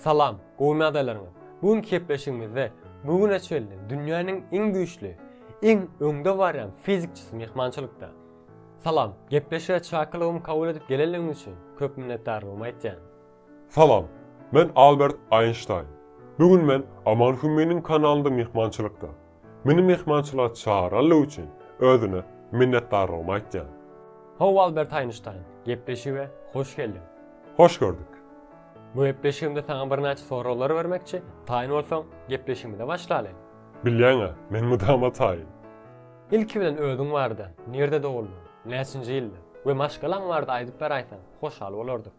Salam, gowy nadalaryňyz. Bu günki gepleşigimizde bu güne çenli dünýäniň iň güýçli, iň öňde barýan fizikçisi myhmançylykda. Salam, gepleşige çakylygymy kabul edip gelenligiňiz üçin köp minnetdarlygymy aýtýan. Salam, men Albert Einstein. Bu gün men Aman Hümminiň kanalynda myhmançylykda. Meni myhmançylyga çagyranlygy üçin özüne minnetdarlygymy aýtýan. How Albert Einstein, gepleşige hoş geldiň! Hoş gördük! Bu gepleşigimde saňa birnäçe soraglar bermekçi, taýyn bolsaň, gepleşigimize başlaly. Bilýäň-ä, men mydama taýyn. Ilki bilen özüň barada, nirde doguldyň, näçinji ýylda we maşgalaň barada aýdyp beraýsaň, hoşal bolardyk.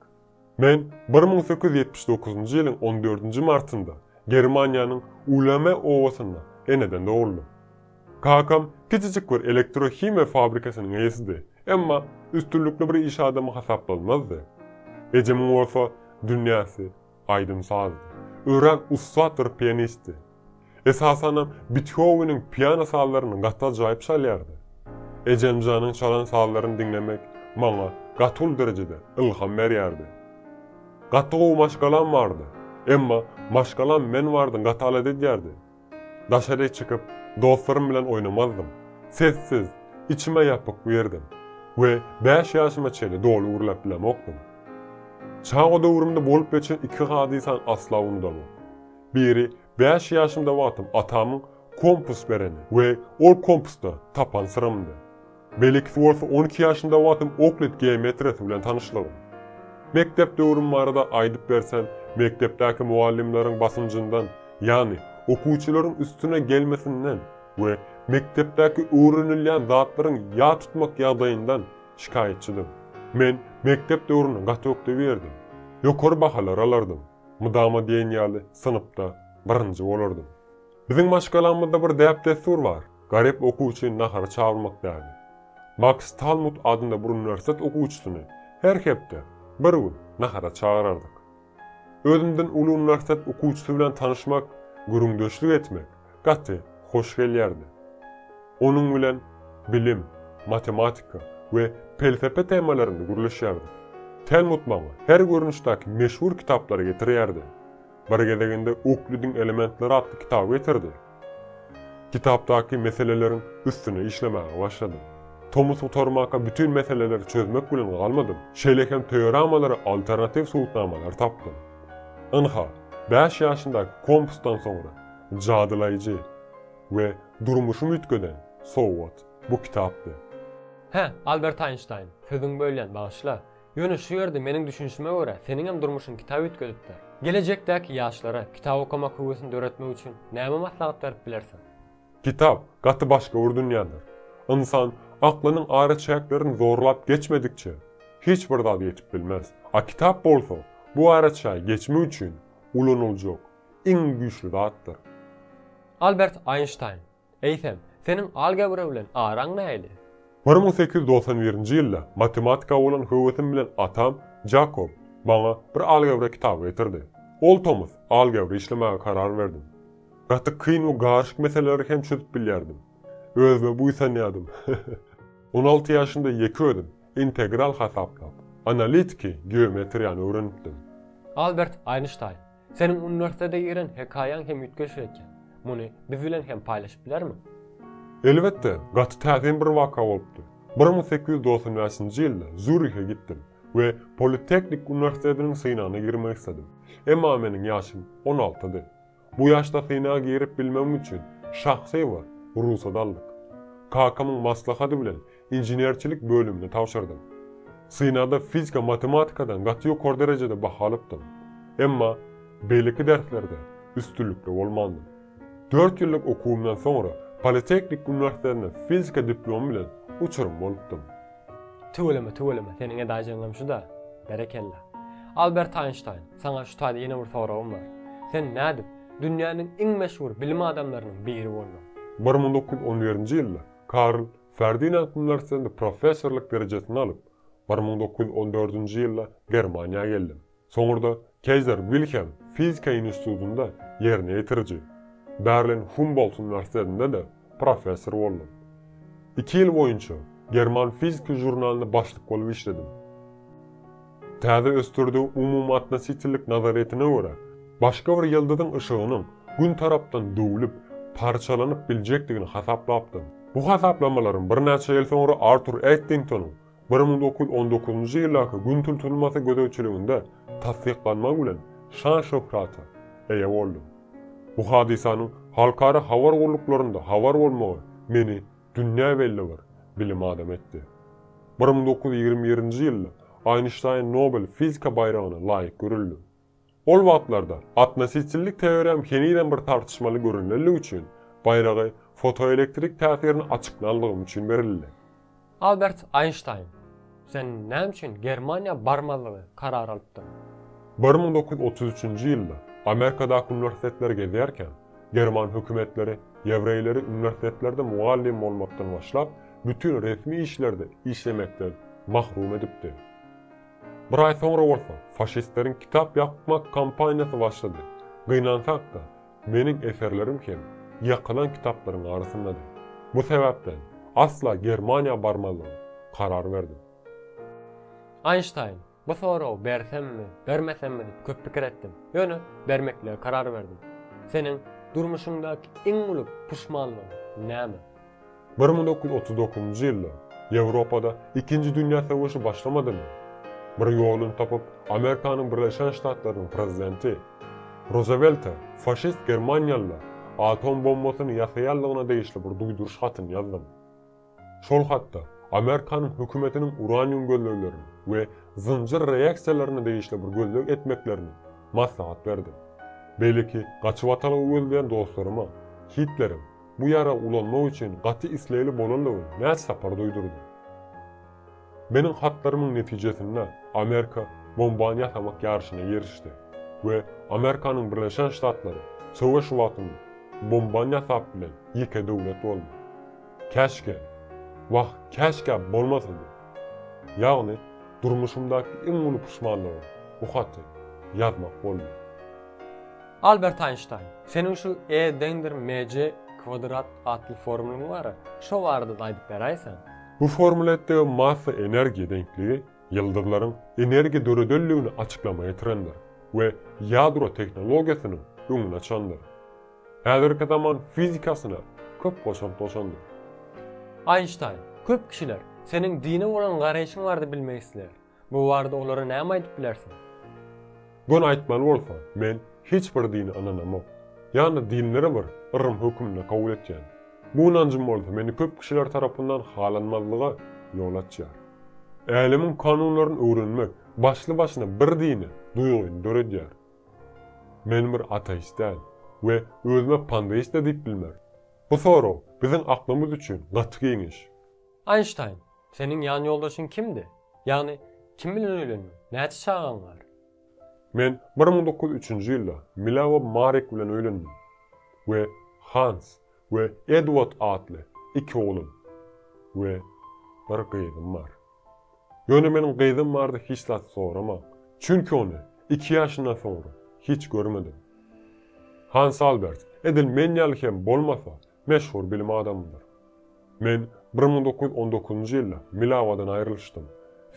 Men bir müň sekiz ýüz ýetmiş dokuzynjy ýylyň on dördünji martynda Germaniýanyň Ulame obasynda eneden dogruldym. Kakam kiçijik bir elektrohimiýa fabrikasynyň eýesidi, emma üstünlikli bir iş adamy hasaplanmazdy. Ejemiň bolsa dünýäsi aýdym-sazdy. Örän ussat bir pianistdi. Esasanam Bethoweniň piano sazlaryny gaty ajaýyp çalýardy. Ejemjanyň çalan sazlaryny diňlemek maňa gaty uly derejede ylham berýärdi. Gaty gowy maşgalam bardy. Emma maşgalam men bardan gaty alada edýärdi. Daşaryk çykyp, dostlarym bilen oýnamazdym. Sessiz, içime ýapyk bu ýerdim we bäş ýaşyma çenli doly gürläp bilemokdym. Çaga döwrümde bolup geçen iki hadysan asla unudamok. Biri bäş ýaşymda wagtym atamyň kompas bereni we ol kompasda tapan syramdy. Beýlekisi bolsa on iki ýaşymda wagtym oklid geometriýasy bilen tanyşlygym. Mekdep döwrüm barada aýdyp bersem, mekdepdäki mugallymlaryň basynjyndan, ýagny okuwçylaryň üstüne gelmesinden we mekdepdäki öwrenilýän zatlaryň ýat tutmak ýagdaýyndan şikaýatçydym. Men mekdep döwrüni gaty ökde bilerdim. Ýokary bahalar alardym. Mydama diýen ýaly synpda birinji bolardym. Biziň maşgalamyzda bir däp-dessur bar, garyp okuwçy nahara çagyrmak däbi. Maks Talmud adynda bir uniwersitet okuwçysyny her hepde bir gün nahara çagyrardyk. Özümden uly uniwersitet okuwçysy bilen tanyşmak, gürrüňdeşlik etmek, gaty hoş gelýärdi. Onuň bilen bilim, matematika we pelsepe temalarynda gürleşýärdik. Telmut maňa her görnüşdäki meşhur kitaplary getirýärdi. Bir gezeginde Uklidiň elementleri atly kitaby getirdi. Kitapdaky meseleleriň üstüne işlemäge başladym. Tomus gutarmaka bütin meseleleri çözmek bilen galmadym, şeýle hem teoremalara alternatiw subutnamalary tapdym. Ynha, bäş ýaşyndaky kompusdan soňra, Jadylaýjy we durmuşymy üýtgeden sowgat bu kitapdy. Hä, Albert Aýnştaýn, sözüňi bölýän, bagyşla. Ýöne şu ýerde meniň düşünişime görä, seniňem durmuşyňy kitap üýtgedipdir. Gelejekdäki ýaşlara kitap okamak höwesini döretmek üçin näme maslahat berip bilersiň? Kitap gaty başgöwür dünýädir. Ynsan aklynyň araçäklerini zorlap geçmedikçe, hiç bir zada ýetip bilmez. A kitap bolsa, bu araçägi geçmek üçin ulanyljak iň güýçli zatdyr. Albert Einstein, Eýsem, seniň algebra bilen araň nähili? Bir müň sekiz ýüz togsan birinji ýylda matematika bolan höwesim bilen atam Jakob maňa bir algebra kitaby getirdi. Ol tomus algebra işlemäge karar berdim. Gaty kyn we garyşyk meseleleri hem çözüp bilýärdim. Özüme buýsanýardym. On alty ýaşymda ýeke özüm integral hasaplap, analitiki geometriýany öwrenipdim. Albert Einstein, Seniň uniwersitete giren hekaýaň hem üýtgeşik eken. Muny biz bilen hem paýlaşyp bilermiň? Elbetde, gaty täsin bir waka bolupdy. Bir müň sekiz ýüz dogsan bäşinji ýylda Zýurihe gitdim we Politehnik uniwersitetiniň synagyna girmek isledim. Emma meniň ýaşym on altydy. Bu ýaşda synaga girip bilmegim üçin şahsy bir rugsat aldyk. Kakamyň maslahady bilen inženerçilik bölümine tabşyrdym. Synagda fizika-matematikadan gaty ýokary derejede baha alypdym. Emma beýleki derslerde üstünlikli bolmandym. Dört ýyllyk okuwymdan soňra Politehnik uniwersitetinde fizika diplomy bilen uçurym bolupdym. Tüweleme, tüweleme, seniň edajyňam şu-da. Berekella. Albert Aýnştaýn, saňa şu taýda ýene bir soragym bar. Sen nädip dünýäniň iň meşhur bilim adamlarynyň biri bolduň? Bir müň dokuz ýüz on birinji ýylda Karl Ferdinand Müllersendi professorlyk derejesini alyp, bir müň dokuz ýüz on dördünji ýylda Germaniýa geldim. Soňurda Keizer Wilhelm fizika institutynda ýerine ýetiriji, Berlin Humbolt uniwersitetinde-de professor boldum. Iki ýyl boýunça German fiziki žurnalyna başlyk bolup işledim. Täze ösdürdigi umumyatnosiçillik nazaryýetine görä, başga bir ýyldyzyň yşygynyň Gün tarapdan döwlüp, parçalanyp biljekdigini hasaplapdy. Bu hasaplamalaryň birnäçe ýyl soňra Artur Eddingtonyň bir müň dokuz ýüz on dokuzynjy ýyldaky Gün tutulmasy gözegçiliginde tassyklanmagy bilen şan-şöhrata eýe boldy. Bu hadysanyň halkara habar gulluklarynda habar bolmagy meni Dünýä belli bir bilim adamy etdi. Bir müň dokuz ýüz ýigrimi birinji ýylda Eýnşteýn Nobel fizika baýragyna laýyk görüldi. Ol wagtlarda atnosiçillik teorem henizem bir tartyşmaly görünlendigi üçin, baýragy fotoelektrik täsirini açyklanlygym üçin berildi. Albert Eýnşteýn Sen näme üçin Germaniýa barmazlygy karar alypdyň? Bir müň dokuz ýüz otuz üçünji ýylda Amerikadaky uniwersitetleri gezýärkäm, german hökümetleri ýewreýleri uniwersitetlerde mugallym bolmakdan başlap, bütin resmi işlerde işlemekden mahrum edipdi. Bir aý soňra bolsa faşistleriň kitap ýakmak kampaniýasy başlady. Gynansak-da, Meniň eserlerim hem ýakylan kitaplaryň arasyndady. Bu sebäpden asla Germaniýa barmazlyga karar berdim. Einstein, Bu soragy bersemmi, bermesemmi diýip köp pikir etdim. Ýöne bermeklige karar berdim. Seniň durmuşyňdaky iň uly puşmanlygyň näme? Bir müň dokuz ýüz otuz dokuzynjy ýylda Ýewropada Ikinji dünýä söweşi başlamadymy? Bir ýoluny tapyp, Amerikanyň Birleşen Ştatlarynyň prezidenti Ruzewelte faşist germaniýalylar atom bombasyny ýasaýanlygyna degişli bir duýduryş hatyny ýazdym. Şol hatda Amerikanyň hökümetiniň uranium gözleglerine we zynjyr reaksiýalaryna degişli bir gözleg etmeklerini maslahat berdim. Beýleki gaçybatalga gözleýän dostlaryma Hitlerem, bu ýara ulanmak üçin gaty islegli bolandygyny näçe sapar duýdurdy. Meniň hatlarymyň netijesinde Amerika bombany ýasamak ýaryşyna girişdi we Amerikanyň Birleşen Ştatlary söweş wagtynda bombany ýasap bilen ýeke döwlet boldy. Käşgä, wah, käşgä bolmasady. Ýagny, durmuşymdaky iň uly puşmanlygym bu haty ýazmak boldy. Albert Einstein, seniň şu E deňdir MC kwadrat atly formulaň bar-a, şo barada-da aýdyp beräýseň? Bu formula etdigi massa-energiýa deňligi ýyldyzlaryň energiýa döredenligini açyklama getirendir we ýadro tehnologiýasynyň öňüni açandyr. Häzirki zaman fizikasyna köp goşant goşandyr. Einstein, köp kişiler seniň dine bolan garaýşyň barada bilmek isleýär. Bu barada olara näme aýdyp bilersiň? Göni aýtmaly bolsa, men hiç bir dine ynanamok. Ýalnys dinleri bir yrym hökmünde kabul etýän. Bu ynanjym bolsa meni köp kişiler tarapyndan halanmazlyga ýol açýar. Älemiň kanunlaryny öwrenmek başly-başyna bir dine duýgyny döredýär. Men bir ateist däl we özüme pandeist-de diýip bilmerin. Bu sorag biziň aklymyz üçin gaty giňiş. Einstein, seniň ýanýoldaşyň kimdi? Ýagny, kim bilen öýlendiň? Näçe çagaň bar? Men bir müň dokuz ýüz üçünji ýylda Milawa Marik bilen öýlendim we Hans we Edward atly iki oglum we bir gyzym bar. Ýöne meniň gyzym bardy hiç zat soramaň, çünki ony iki ýaşyndan soňra hiç görmedim. Hans Albert, edil men ýaly hem bolmasa, Meşhur bilim adamydyr. Men bir müň dokuz ýüz on dokuzynjy ýylda Milawadan aýrylyşdym.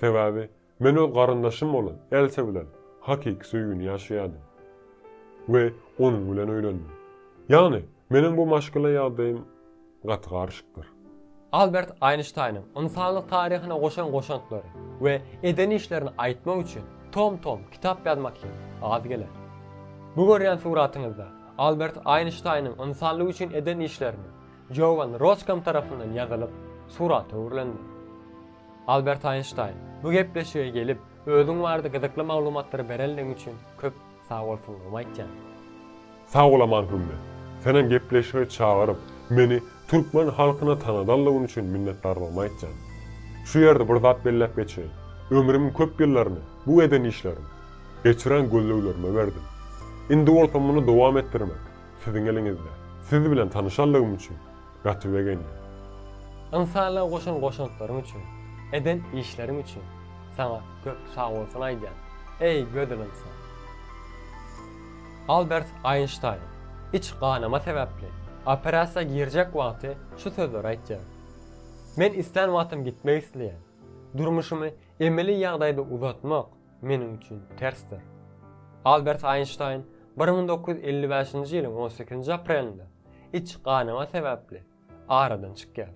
Sebäbi men öz garyndaşym bolan Elsa bilen hakyky söýgini ýaşaýardym. We onuň bilen öýlendim. Ýagny, meniň bu maşgala ýagdaýym gaty garyşykdyr. Albert Aýnştaýnyň ynsanlyk taryhyna goşan goşantlary we eden işlerini aýtmak üçin tom-tom kitap ýazmak hem az geler. Bu görýän suratyňyzda Albert Aýnştaýnyň ynsanlyk üçin eden işlerini Jogan Roskam tarapyndan ýazylyp, surata öwrülendir. Albert Aýnştaýn, bu gepleşige gelip, özüň barada gyzykly maglumatlary berenligiň üçin köp. Sag bolsun Umaýtjan. Sag bol Aman Hümmi. Senem gepleşige çagyryp, meni türkmen halkyna tanadanlygyň üçin minnetdardygymy aýtýan. Şu ýerde bir zat belläp geçeýin. Ömrümiň köp ýyllaryny bu eden işlerim, geçiren gözleglerime berdim. Indi bolsa muny dowam etdirmek siziň eliňizde. Siz bilen tanyşanlygym üçin Gaty begendim. Ynsanlyga goşan goşantlaryň üçin, eden işleriň üçin saňa köp sagbolsun aýdýan, eý gözel ynsan! Albert Aýnştaýn iç ganama sebäpli operasiýa girjek wagty şu sözleri aýtýar, Men islän wagtym gitmek isleýän, durmuşymy emeli ýagdaýda uzatmak, meniň üçin tersdir. Albert Eýnşteýn bir müň dokuz ýüz elli bäşinji ýylyň on sekizinji aprelinde iç ganama sebäpli aradan çykýar.